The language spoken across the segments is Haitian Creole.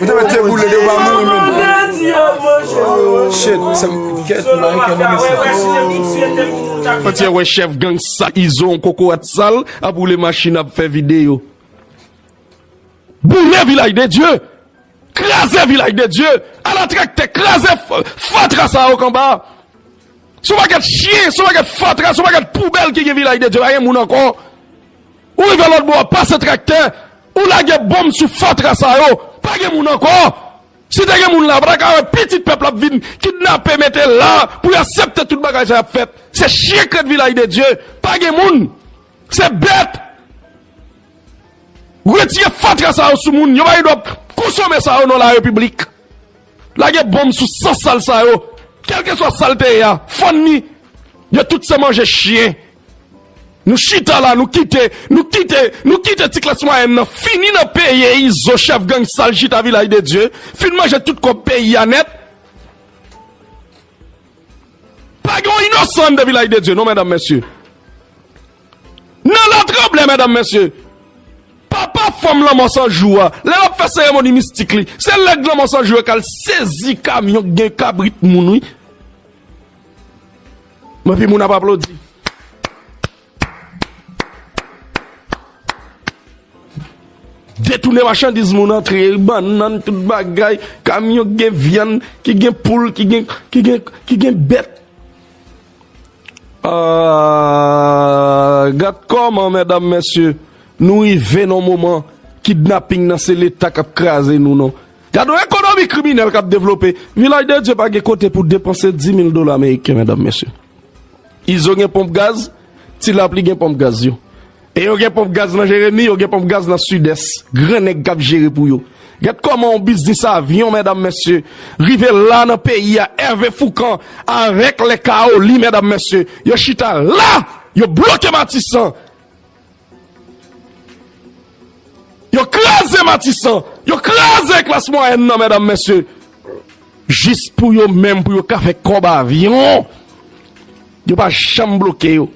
Ou te met pye boule de ou pa mouri menm. Shit, sa m ket may ke nan mesye. Mwen te wè chèf gang sa izo yon kokorat sal ap woule machin ap fè videyo. Boule vilaj de Dye! Kraze vilaj de Dye! Ala traktè kraze fatra sa yo kanba! Son paket chyen, son paket fatra, son paket poubèl ki gen vilaj de Dye pa gen moun ankò. Ou rive lòt bò a pase traktè, ou lage bonm sou fatra sa yo, pa gen moun ankò. Si te gen moun la, pa ta ka wè pitit pèp la ap vin kidnape mete la pou y asepte tout bagay sa y ap fèt. Se chyen krèt Vilaj de Dye, pa gen moun, se bèt. Retire fatra sa yo sou moun, yo pa gen dwa konsome sa yo nan la repiblik. Lage bonm sou san sal sa yo kelke swa sal te ye a fann ni yo tout se manje chyen nou chita la nou kite nou kite nou kite ti klas mwayèn nan fini nan peye izo chèf gang sal chita vilaj de dye fin manje tout kòb peyi a nèt. Pa gen yon inosan anndan vilaj de Dye non medam mesye. Nan la tranble medam mesye. Papa fanm lanmò san jou a, lè lap fè seremoni mistik li, se lèg lanmò san jou yo kal sezi kamyon k gen kabrit moun wi. Epi moun ap aplodi. Detounen machandiz moun antre bannann tout bagay kamyon ki gen vyann ki gen poul ki gen ki gen ki gen bèt aah gad kòman mèdam mèsye nou rive nan moman kidnaping nan se leta kap kraze nou nan gad yon ekonomi kriminèl kap devlope vilaj de dye pa gen kote pou depanse dimil dola meriken mèdam mèsye. Izo gen ponp gaz, Ti Lapli gen ponp gaz yo. E yo gen ponp gaz nan Jeremi, yo gen ponp gaz nan Sidès. Gran nèg k ap jere pou yo. Gad kòman yon biznis avyon, medam mesye, rive la nan peyi a. Ève Foukan avèk Lè Kaoli, medam mesye, yo chita la! Yo bloke Matisan! Yo kraze matisan, yo kraze klas mwayèn nan mèdam mèsye, jis pou yo menm pou yo ka fè kòb avyon, yo pa janm bloke yo,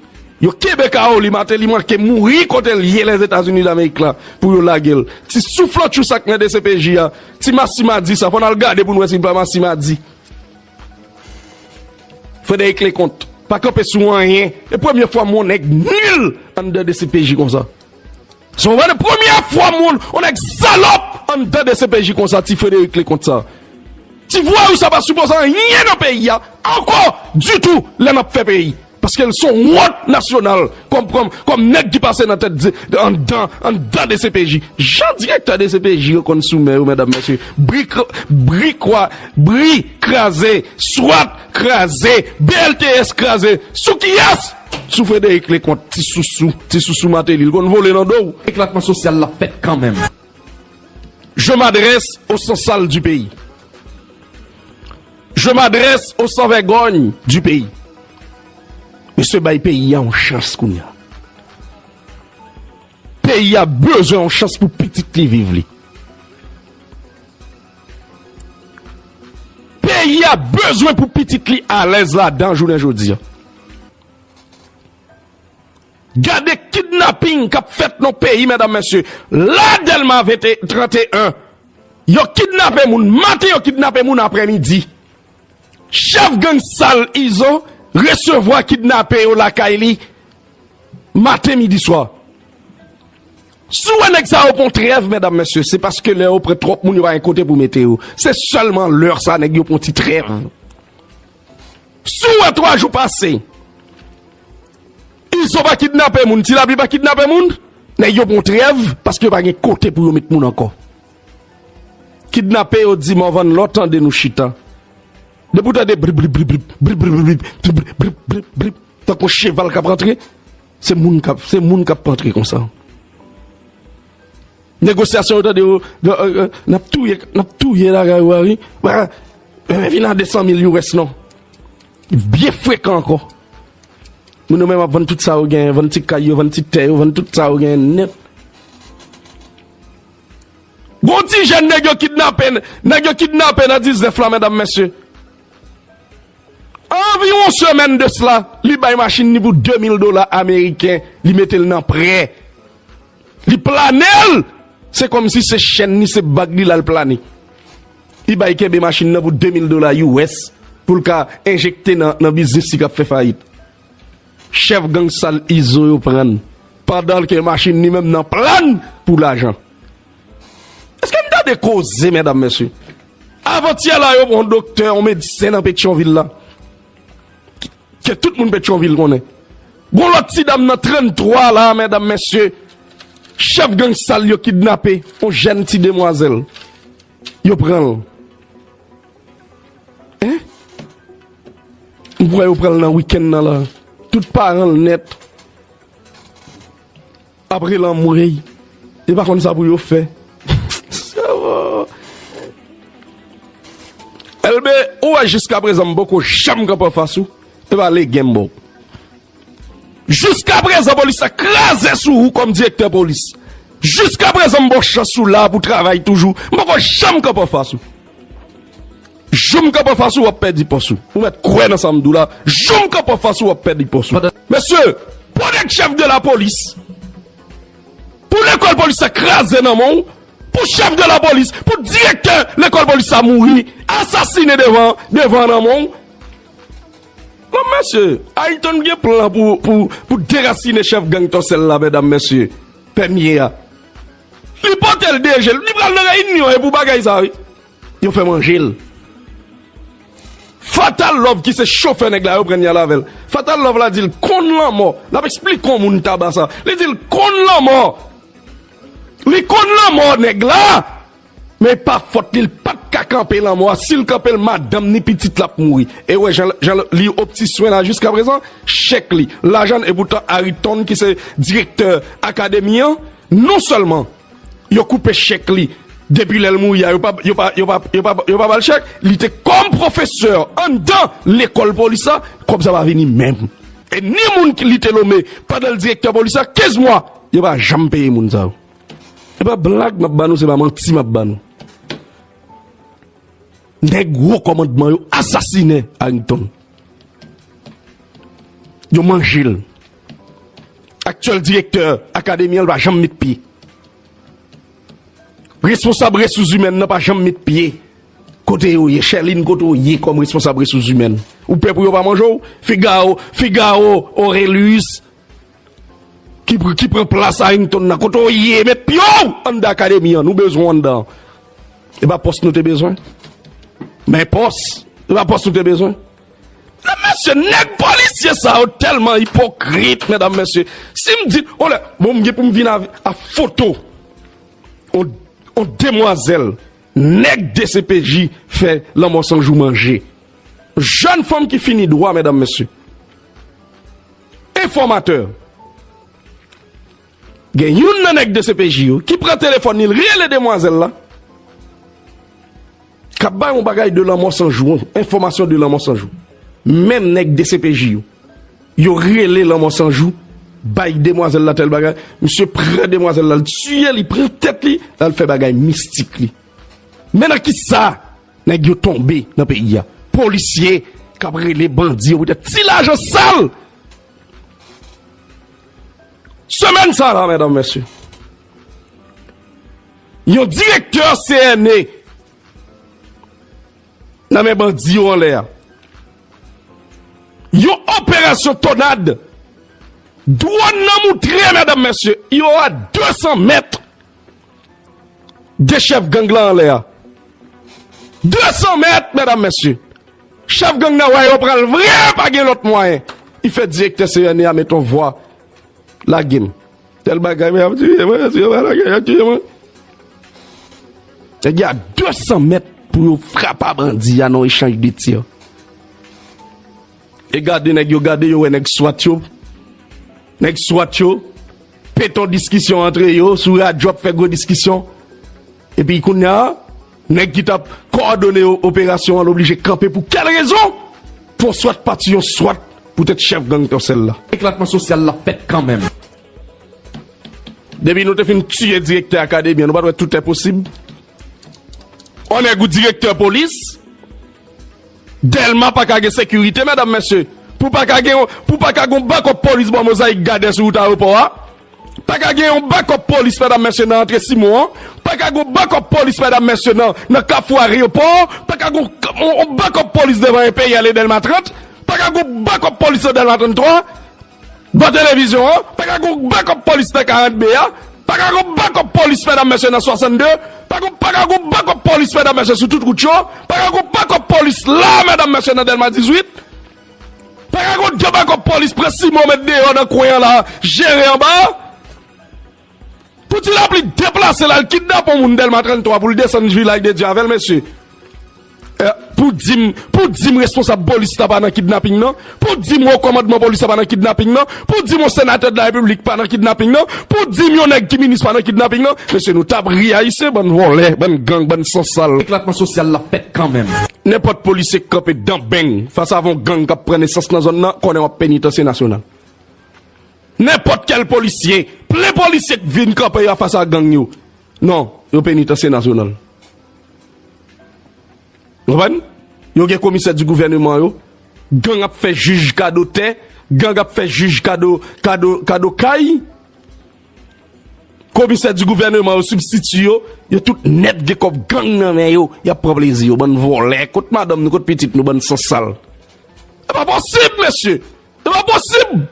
yo kenbe kawo li, Mateli manke mouri kote li ye Lèzetazini Damerik la pou yo lage l, ti souflòtchou sa k nan dcpj a, ti masimadi sa fò n al gade pou n wè si l pa masimadi. Frederick Leconte pa kanpe sou anyen. E premye fwa m wè yon nèg nul anndan dcpj konsa. Se vrè e premye fwa m wè yon nèg salòp anndan dcpj konsa ti Frederick Leconte sa. Ti vwayou sa pa sipoze anyen nan peyi a ankò ditou lè n ap fè peyi. Paske l son wont nasyonal kòm nèg ki pase nan tèt anndan dcpj. Jan direktè dcpj yo konn sou men yo medam mesye. Bri kwa bri kraze swat kraze BLTS kraze sou kiyès? Sou Frédéric Leconte ti sousou ti sousou Martelly l konn vole nan do w. Eklatman sosyal la fèt kanmenm. Je m'adresse aux sans sal du pays Je m'adresse aux sans vègòny du pays Mesye bay peyi a yon chans kounye a Peyi a bezwen yon chans pou pitit li viv li Peyi a bezwen pou pitit li alèz ladan jounen jodi a. Gade kidnaping kap fèt nan peyi medam mesye la delma 31 yo kidnape moun maten yo kidnape moun aprè midi chèf gang sal izo resevwa kidnape yo lakay li maten midi swa si w wè nèg sa yo pran trèv medam mesye se paske lè yo pran tròp moun yo pa gen kote pou mete yo se sèlman lè sa nèg yo pran ti trèv. Si w wè 3 jou pase, Izo pa kidnape moun, Ti Lapli pa kidnape moun, nèg yo pran trèv paske yo pa gen kote pou yo met moun ankò. Kidnape yo di Morvan lè w tande nou chita, depi w tande brip brip brip brip, brip brip brip brip, brip brip brip brip brip tankou yon cheval k ap rantre, se moun k ap rantre konsa. Negociation yo tande nap touye nap touye la gay wari vin a 200 mil you wès non byen frekan anko moun yo menm ap vann tout sa yo gen vann ti kay yo vann ti tè yo vann tout sa yo gen net gon ti jèn nèg yo kidnape nèg yo kidnape nan 19 la medam mesye anvi yon semèn de sla li bay machin ni pou 2000 dola ameriken li metel nan prè. Li planel! Se komsi se chèn li, se bag li lal plane. Ebay kenbe machin nan pou 2 mil dola US poul ka enjekte nan biznis li kap fè fayit. Chèf gang sal Izo yo prann pandanl ke machin li menm nan plann pou lajan. Eske nou tande koze medam mesye? Avantyè la yo pran yon doktè, yon medsen nan Petyonvil la. Ke tout moun Petyonvil konnen. Gon lòt ti dam nan 33 la a medam mesye, chèf gang sal yo kidnape yon jèn ti demwazèl. Yo pran l. Hein? M kwè yo pran l nan wikenn nan la a. Tout paran l nèt. Apre lanmou ey yo pa konn sa pou yo fè seum Elbe ou wè jiskaprezan m poko janm kanpe anfas ou epa legen m ba w jiskaprezan polis la kraze sou ou kòm direktè polis jiskaprezan m ba w chans ou la pou travay toujou m poko janm kanpe anfas ou. Jou m kanpe anfas ou wap pèdi pòs ou. Ou mèt kwè nan sa m di w la, jou m kanpe anfas ou wap pèdi pòs ou. Mesye, pou nèg chèf de lapolis, pou lekòl polis sa kraze nan men w, pou chèf de lapolis, pou direktè lekòl polis sa mouri, asasine devan, devan nan men w. Bon mesye, Ayrton gen plan pou, pou, pou derasine chèf gang Tòsèl la medam mesye, Pènye a. Li pote l deje l, li pral nan reyinyon e pou bagay sa wi. Yo fè manjel. Fatal love ki se chofè nèg la yo pran yal avèl fatal love la dil konn lanmò lap esplik on moun taba sa li dil konn lanmò li konn lanmò nèg la men epa fòt li pat ka kanpe lanmò a sil kanpel madanm ni pitit lap mouri ewè jan jan li op ti swen la jiska prezan chèk li lajann epoutan ariton ki se direktè akademi an non sèlman yo koupe chèk li depi lè l mouri a, yo pa ba l chèk, li te kòm pwofesè anndan lekòl polis la, kòb sa pa vini menm. E ni moun li te nome pandan l direktè polis la, 15 mwa, yo pa janm peye moun sa yo. Se pa blag m ap ba nou, se pa manti m ap ba nou. Nèg wo kòmandman yo asasinen Arrington. Yo manje l. Aktyèl direktè akademi an l pa janm met pye. Responsab resouzimèn nan pa janm met pye. Kote yo ye? Chèlin kote w ye kòm responsab resouzimèn? Ou pè pou yo pa manje w? Figawo, Figawo Oreliyis ki pran plas Arington nan, kote w ye? Met pye w anndan akademi an, nou bezwen w anndan. E pa pòs nou te bezwen? Men pòs, e pa pòs nou te bezwen? Menm mesye neg polisye sa yo telman ipokrit medam mesye sim di on lè bon m gen pou m vin a foto on demwazel neg dcpj fè lanmo san jou manje jen fanm ki fini dwa medam mesye enfomateur. Gen youn nan nèg dcpj yo ki pran telefòn li, l rele demwazèl la k ap bay yon bagay de lanmò san jou, yon enfòmasyon de lanmò san jou. Menm nèg dcpj yo, yo rele lanmò san jou bay demwazèl la tèl bagay, misye pran demwazèl la, l tiye li, pran tèt li, l al fè bagay mistik li. Men nan ki sa nèg yo tonbe nan peyi a? Polisye k ap rele bandi yo poutèt ti lajan sal! Semèn sa la, mèdam, mèsye, yon direktè CNE nan men bandi yo anlè a, yon operasyon tonad, dwòn nan moutre, mèdam, mèsye, yo a 200 mèt. 2 chèf gang lan anlè a. 200 mèt mèdam mèsye. Chèf gang nan wè yo pral vre pa gen lòt mwayen. I fè direktè CNE a met on vwa lage m. Tèl bagay men y ap tiye mwen, si yo pa lage m y ap tiye mwen. Nèg y a 200 mèt pou yo frapa bandi a nan yon echanj de tir. E gade nèg yo gade yo wè nèg swat yo nèg swat yo peton diskisyon antre yo sou radyo ap fè gwo diskisyon epi kounya nèg ki tap kòdone operasyon an oblije kanpe pou kèl rezon pou yon swat pati yon swat poutèt chèf gang tòsèl la. Eklatman sosyal la fèt kanmenm. Depi nou te fin tiye direktè akademi an nou pat wè tout enposib on nèg ou direktè polis. Delma paka gen sekirite medam mesye pou paka gen yon pou paka gen yon bakòp polis bò mozaik gadè sou wout aewopò a paka gen yon bakòp polis medam mesye nan antre simon an paka gen yon bakòp polis medam mesye nan nan kafou areopò paka gen yon bakòp polis devan enperyal e delma 30 paka gen yon bakòp polis nan delma 33 Bo televizyon an, pa ka gon backup police nan 40 mai a, pa ka gon backup police medam mesye nan 62, pa gon pa ka gon backup police medam mesye sou tout rout yo, pa ka gon backup police la a medam mesye nan delma 18, pa ka gon 2 backup police pran Simon met deyo nan kwen an la a jere anba a. Pou ti lapli deplase l al kidnape yon moun Dèlma 33 pou l desann jwi lay de Dye avè l mesye. Pou di m, pou di m responsab polis la pa nan kidnaping nan? Pou di m wo kòmandman polis la pa nan kidnaping nan? Pou di m yon senatè de la repiblik pa nan kidnaping nan? Pou di m yon nèg ki minis pa nan kidnaping nan? Mesye nou t ap ri Ayisyen bann vòlè, bann gang, bann san sal. Eklatman sosyal la fèt kanmenm. Nenpòt polisye k kanpe dan beng fas avè yon gang k ap pran nesans nan zòn nan konnen w ap penitansye nasyonal. Nenpòt kèl polisye, plen polisye k vin kanpe yo fas a gang yo. Non, yo penitansye nasyonal. Ou konprann? Yo gen komisè di gouvèneman yo, gang ap fè jij kado tè, gang ap fè jij kado, kado, kado kay. Komisè di gouvèneman yo, sibstiti yo, yo tout nèt gen kòb gang nan men yo, y ap pran plezi yo. Bann vòlè, kot madanm nou, kot pitit nou, bann san sal. Se pa posib, mesye! E pa posib!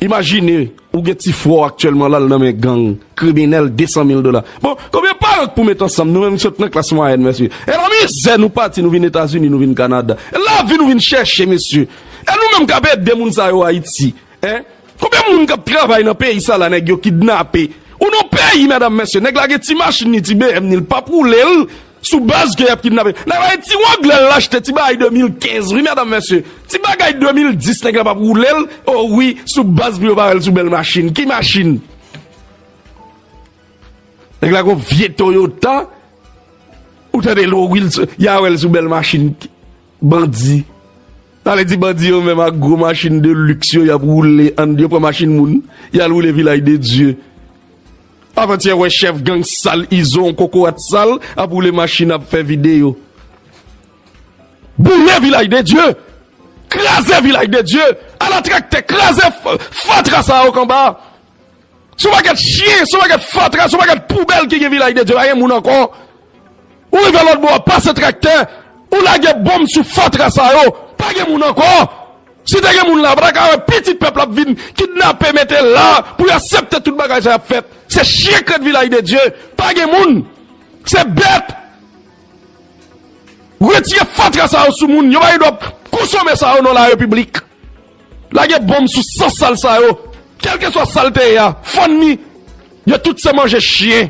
Imajine ou gen ti frè w aktyèlman la l nan men gang, kriminèl 200 mil dola. Bon, konbyen paran k pou met ansanm nou menm k sot nan klas mwayèn mesye? E nan mizè nou pati nou vin Etazini, nou vin Kanada. E lavi nou vin chèche mesye. E nou menm k ap ede moun sa yo Ayiti. Hein konbyen moun kap travay nan peyi sa la nèg yo kidnape ou nan peyi medam mesye nèg la gen ti machin ni ti BM ni li pap roulel sou baz ke yap kidnape nèg la gen ti wanglè la achte ti bagay 2015 wi medam mesye ti bagay 2010 nèg la pap roulel oh wi sou baz pou yo pa wèl sou bèl machin ki machin nèg la gon vye Toyota ou tande lo wi ya wèl sou bèl machin. Bandi. Sa vle di bandi yo menm ak gwo machin de luxe yo yap woule and yo pran machin moun yal woule vilaj de Dye. Avantyè wè chèf gang sal izo on kokorat sal ap woule machin ap fè video. Boule vilaj de Dye. Kraze vilaj de Dye. Ala traktè kraze fatra sa ok anba. Son paket chien, son paket fatra, son paket poubel ki gen vilaj de Dieu, pa gen moun anko. Ou rive lot bo a pase traktè, ou lage bonm sou fatra sa yo, pa gen moun anko. Si te gen moun la, pa ta ka we pitit pep la ap vin kidnape mete la pou yo asepte tout bagay sa yo ap fet. Se chien ki ret vilaj de Dieu, pa gen moun. Se bet. Retire fatra sa yo sou moun, yo pa gen dwa konsome sa yo nan la repiblik. Lage bonm sou san sal sa yo kelkeswa sal te ye a fann li yo tout se manje chyen.